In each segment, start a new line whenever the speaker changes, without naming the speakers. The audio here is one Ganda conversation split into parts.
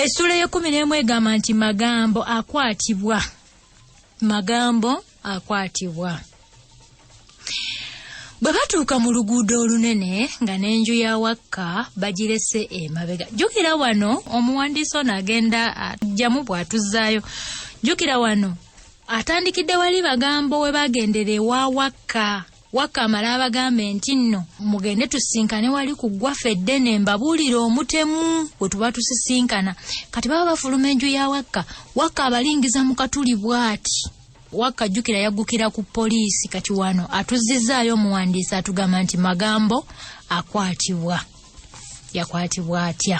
essuula ey'ekkumi n'emu egamba nti magambo akwatibwa magambo akwatibwa bwe batuuka mu luguudo olunene nga n'enju ya wakka bagirese emabega jjukira wano omuwandiisi ono agenda ajjamu bw'atuzzaayo jjukira wano atandikidde wali bagambo we bagendera ewa wakka Wakkamala abagambe nti nno mugende tusisinkane wali ku ggwaffe eddene mbabuulire omutemu we tuba tusisinkana kati baba bafuluma enju ya wakka wakka abalingiza mu katuli bw'ati wakka jjukira yaggukira ku poliisi kati wano atuzizzaayo omuwandiisi atugamba nti magambo akwatibwa yakwatibwa atya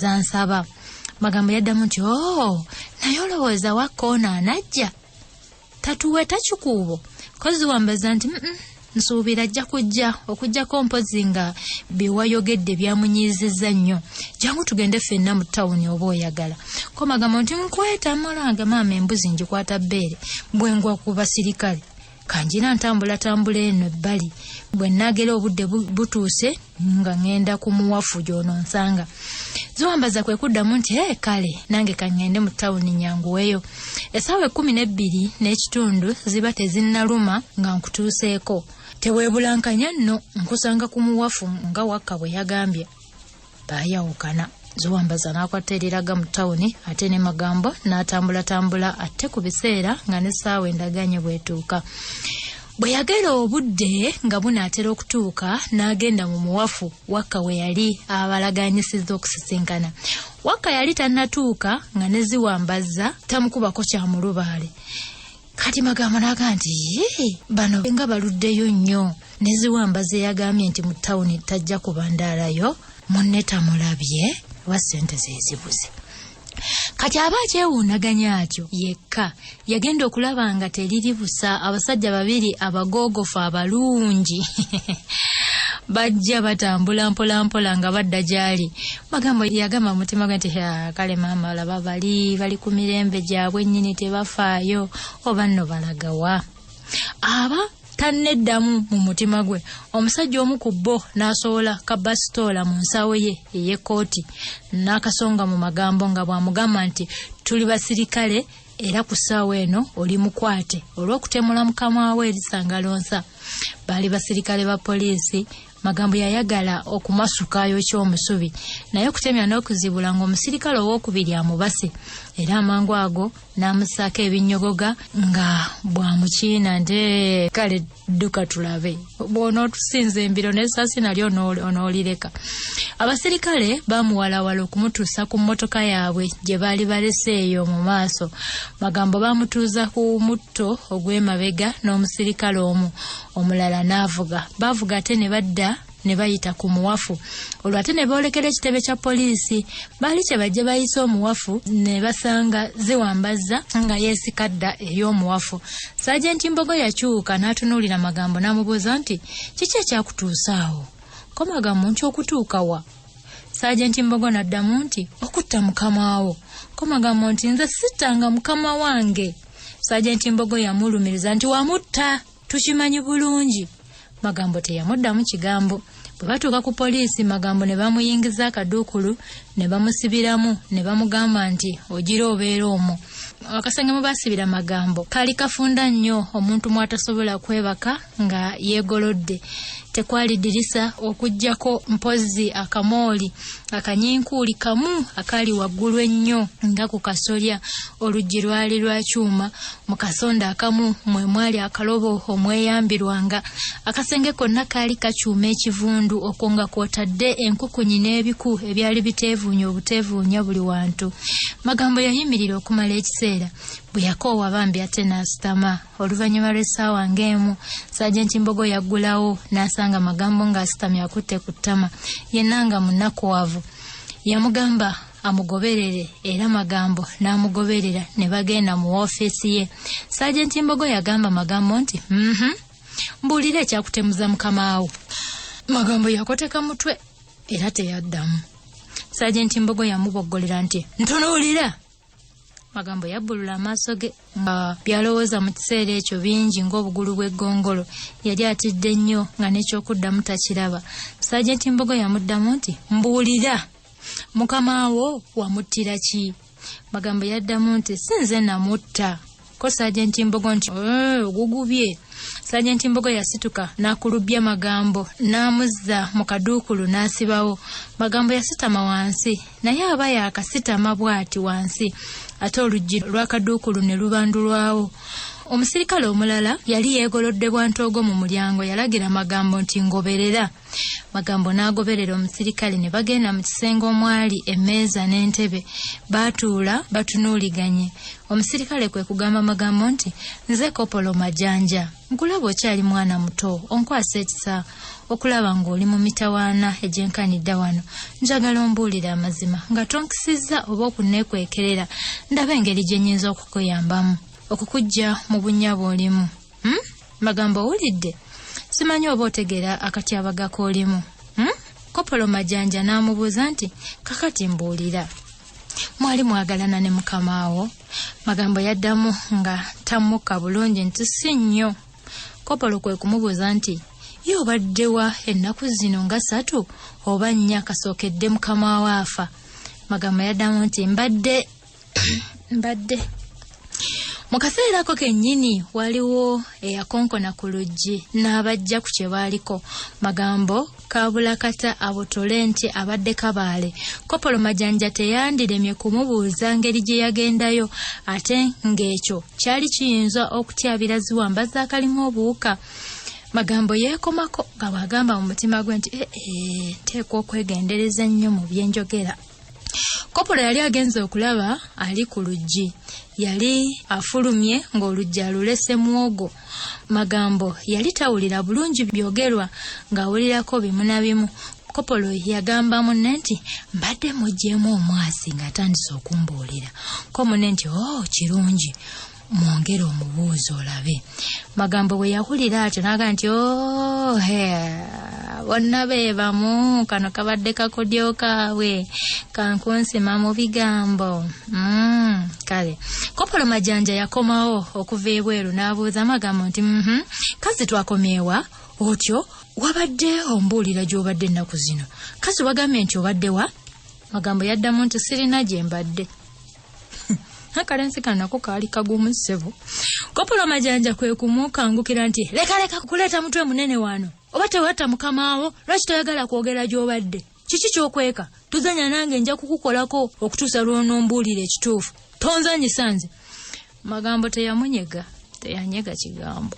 zansaba magambo yaddamu nti o oh, naye olowooza wakkoona anajja tatuwe takikuubo kozi wambaza nti nsuubira ajja kujja okujjako mpozi nga byewayogedde byamunyiizizza nnyo jangu tugende ffenna mu tawuni oba oyagala ko magambo nti nkweta moloanga maama embuzi ngikwata bbeere bwengwa ku basirikale kanjira ntambulatambula eno ebbali bwe nnaagera obudde butuuse nga ŋŋenda ku muwafu gy'ononsanga ziwambaza kwe kuddamu nti e kale nange kaŋŋende mu tawuni nyanguweyo essaawa ekkumi n'ebbiri n'ekitundu ziba tezinnaluma nga nkutuuseeko teweebulankanya nno nkusanga ku muwafu nga wakka bwe yagambye baayawukana ziwambaza n'akwata eriraga mu tawuni ate ne magambo n'atambulatambula atte ku biseera nga n'essaawa endaganye bwetuuka bwe yagera obudde nga bunaatera okutuuka n'agenda mu muwafu wakka we yali abalaganyisizza okusisinkana wakka yali tannatuuka nga ne ziwambazza tamukubako kya mulubaale kati magambo naga nti yii bano nga baluddeyo nnyo neziwamba zeyagambye nti mu tawuni tajja kubandaalayo munne tamulabye oba sente zezibuze kati aba akyewuunaganya atyo yekka yagenda okulaba nga teriri busa abasajja babiri abagoogofu abalungi bajja batambula mpolampola nga badda gy'ali magambo yagamba mu mutima gwe nti kale maama olaba bali bali ku mirembe gyabwe nnyini tebafaayo oba nno balagawa aba tanneddamu mu mutima gwe omusajja omu ku bo n'asowola kabasitoola mu nsawo ye ey'ekkooti n'akasonga mu magambo nga bw'amugamba nti tuli basirikale era ku ssaawa eno oli mukwate olw'okutemula mukama we erisangalonsa baali basirikale ba poliisi magambo yayagala okumasukayo kyomusubi naye okutemya n'okuzibula ng'omusirikale ow'okubiri amubase era amangu ago n'amusaako ebinnyogoga nga bwamukiina nte kale dduka tulabe bw'onootusinza embiro n'esaasi nali onoolireka abasirikale baamuwalawala okumutuusa ku mmotoka yaabwe gye baali balese eyo mu maaso magambo baamutuuza ku mutto ogw'emabega n'omusirikale omu omulala n'avuga baavuga ate ne badda ne bayita ku muwafu olwo ate ne boolekera ekitebe kya poliisi baali kye bajje bayise omuwafu ne basanga ziwambazza nga yeesika dda eri omuwafu saajenti mbogo yakyuka n'atunuulira magambo n'amubuuza nti kiki ekyakutuusa awo ko magambo nti okutuuka wa saajenti mbogo n'addamu nti okutta mukamawo ko magambo nti nze sittanga mukama wange saajenti mbogo yamulumiriza nti wamutta tukimanyi bulungi magambo teyamuddamu kigambo bwe batuuka ku poliisi magambo ne bamuyingiza akaduukulu ne bamusibiramu ne bamugamba nti ogira obeera omwo akasenge mwe basibira magambo kali kafunda nnyo omuntu mwatasobola kwebaka nga yeegolodde tekwali dirisa okugyako mpozzi akamooli akanyinkuuli kamu akaali waggulu ennyo nga ku kasolya oluggi lwali lwa kyuma Mu kasonda akamu mwe mwali akalobo omweyambirwanga. Akasenge konna kaali kakyuma ekivundu okwo nga kw'otadde enkukunyi n'ebiku ebyali biteevuunya obuteevuunya buli wantu. Magambo yayimirira okumala ekiseera. Bwe yakoowa bambi ate n'asitama. Oluvannyuma lw'essaawa ng'emu, Saajenti Mbogo yaggulawo n'asanga Magambo ng'asitamye akutte ku ttama, yenna nga munakuwavu. Yamugamba. amugoberere era magambo n'amugoberera ne bagenda mu woofiisi ye saajenti mbogo yagamba magambo nti mhm mbuulira ekyakutemuza mukamaawo magambo yakoteka mutwe era teyaddamu saajenti mbogo yamuboggolera nti ntunuulira magambo yabbulula amaaso ge nga byalowooza mu kiseera ekyo bingi ng'obugulu bw'eggongolo yali atidde nnyo nga n'ekyokuddamu takiraba saajenti mbogo yamuddamu nti mbuulira mukama wo wamuttira ki magambo yaddamu nti si nze namutta ko sajenti mbogo nti eh, ogugubye sajenti mbogo yasituka n'akulubbya magambo n'amuzza mu kaduukulu n'asibawo magambo yasitama wansi naye aba yakasitama bw'ati wansi ate oluggi lw'akaduukulu ne lubandulwawo omusirikale omulala yali yeegolodde bwantoogo mu mulyango yalagira magambo nti ngoberera Magambo n'agoberera omusirikale ne bagenda mu kisenge omwali emmeeza n'entebe. Baatuula batunuuliganye. Omusirikale kwe kugamba Magambo nti, Nze Kopolo Majanja. Nkulaba okyali mwana muto, onkwasa ekisa okulaba ng'oli mu mitawaana egyenkanidda wano. Njagala ombuulire amazima nga tonkisizza oba okunneekwekerera ndabe engeri gye nnyinza okukuyambamu okukujja mu bunnya bw'olimu. hmm? magambo owulidde simanyi oba otegeera akatyabaga k'olimu hmm? kopolo majanja n'amubuuza nti kakati mbuulira mwali mwagalana ne mukamaawo magambo yaddamu nga tammukka bulungi nti si nnyo kopolo kwe kumubuuza nti ye obaddewa ennaku zino nga satu oba nnya kasookedde mukamaawo afa magambo yaddamu nti mbadde mbadde mu kaseera ako kennyini waliwo eyakonkona ku luggi n'abajja ku kye baaliko magambo kaabulakata abotole nti abadde kabaale kopolo majanja teyandiremye kumubuuza ngeri gye yagendayo ate ng'ekyo kyali kiyinza okutyabira ziwamba zaakalimu obuwuka magambo yeekomako nga bw'agamba mu mutima gwe nti ee eh, eh, nteekwa okwegendereza ennyo mu byenjogera kopola yali agenze okulaba ali ku luggi yali afulumye ng'oluggi alulese mwogo magambo yali tawulira bulungi byogerwa ng'awulirako bimu na bimu kopolo yagamba munne nti mbadde muggyemu omwasi ng'atandise okumbuulira ko munne nti o oh, kirungi mwongere omubuuzi olabe magambo bwe yawulira atyo naaga nti ohe oh, bonna be bamu kano kabadde kakodyo kaabwe kankunsima mu bigambo mm, kale kopolo majanja yakomawo okuva ebweru n'abuuza amagambo nti mm -hmm, kazi twakomeewa otyo wabadde ombuulira gy'obadde ennaku zino kazi wagambye nti obadde wa magambo yaddamu nti sirina gye mbadde akalenzi kanako kaali kagumu ssebo kopolo majanja kwe kumukangukira nti leka leka kuleeta mutwe munene wano oba tewatta mukamaawo lwaki toyagala kwogera gy'obadde kiki kyokweka tuzanya nange nja kukukolako okutuusa lwonombuulira ekituufu tonzanyisa nze magambo teyamunyega teyanyega kigambo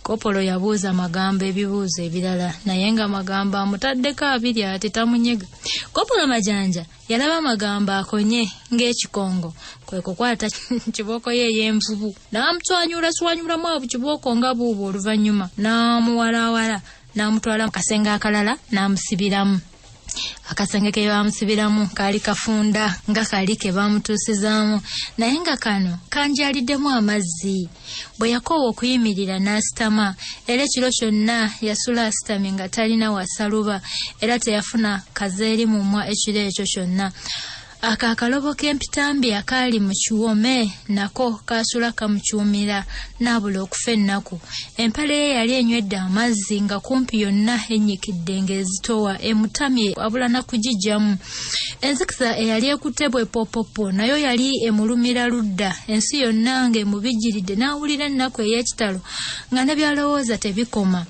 kopolo yabuuza magambo ebibuuzo ebirala naye nga magambo amutaddeko abiri ate tamunyega kopolo majanja Yalaba amagambo akonye ng'ekikongo kwe kukwata kibooko ye ey'envubu n'amutwanyuula swanyuulamu abu kibooko nga buubu oluvannyuma n'amuwalaawala n'amutwala mu kasenge akalala n'amusibiramu akasenge ke baamusibiramu kaali kafunda nga kali ke baamutuusizaamu naye nga kano kanjaliddemu amazzi bwe yakoowa okuyimirira n'asitama era ekiro kyonna yasula asitamye nga talina wasaluba era teyafuna kazeeri mumwa ekiro ekyo kyonna ako akalobo k'empitambi akaali mu kiwome nako kaasula kamucuumira n'abula okufa ennaku empale ye yali enywedde amazzi nga kumpi yonna ennyikidde ng'ezitowa emutamye abula na kugijjamu enzikiza eyali ekutte bwe popopo nayo yali emulumira ludda ensi yonna nga emubijjiridde n'awulira ennaku ey'ekitalo nga ne byalowooza tebikoma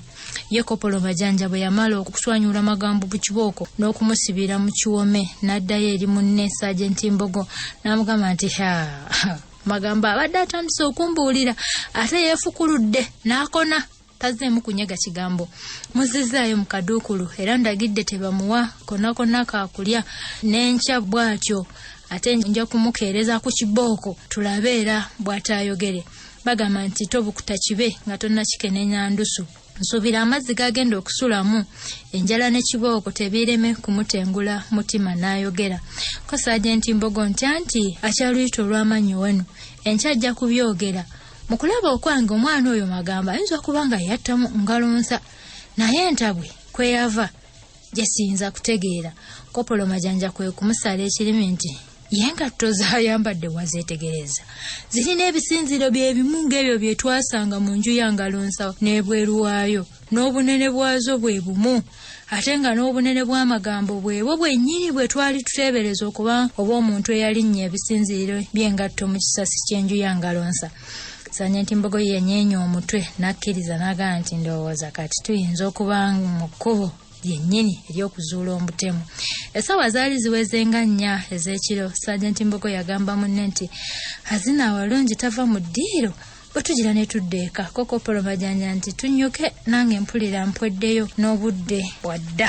ye kopolo majanja bwe yamala okuswanyula amagambo ku kibooko n'okumusibira mu kiwome n'addayo eri munne sajenti mbogo n'amugamba nti ha magambo abadde atandise okumbuulira ate yeefukuludde n'akona tazeemu kunyega kigambo muzizzaayo mu kaduukulu era ndagidde tebamuwa konna konna kaakulya n'enkya bw'atyo ate nja kumukeereza ku kibooko tulabe era bw'ataayogere bagamba nti tobukuta kibe nga tonnakikenenya ndusu nsuubira amazzi gagenda okusulamu enjala ne kibooko tebiireme kumutengula mutima n'ayogera ko saajenti mbogo ntya nti akyaluyita olw'amannyi wenu enkya ajja kubyogera mu kulaba okwange omwana oyo magambo ayinza okuba nga yattamu ngalonsa naye entabwe kweyava gyesiyinza kutegeera kopolo majanja kwe kumusala ekirimi nti ye ngatto zayambadde wazeetegereza zirina ebisinziro bye bimu ng'ebyo bye twasanga mu nju ya ngalonsa n'ebweru waayo n'obunene bwazo bwe bumu ate nga n'obunene bw'amagambo bwebwo bwennyini bwe twali tuteebereza okuba obw'omuntu eyalinnya ebisinziiro by'engatto mu kisasi ky'enju ya ngalonsa sanya nti mbogo ye yanyeenya omutwe n'akkiriza n'agamba nti ndowooza kati tuyinza okuba mu kkubo lyennyini ery'okuzuula omutemu essaawa zaali ziweze nga nnya ez'ekiro sanya nti mbogo yagamba munne nti hazina awalungi tava mu ddiiro bwe tugira ne tudda eka kokopolo majanja nti tunnyuke nange mpulira mpweddeyo n'obudde bwadda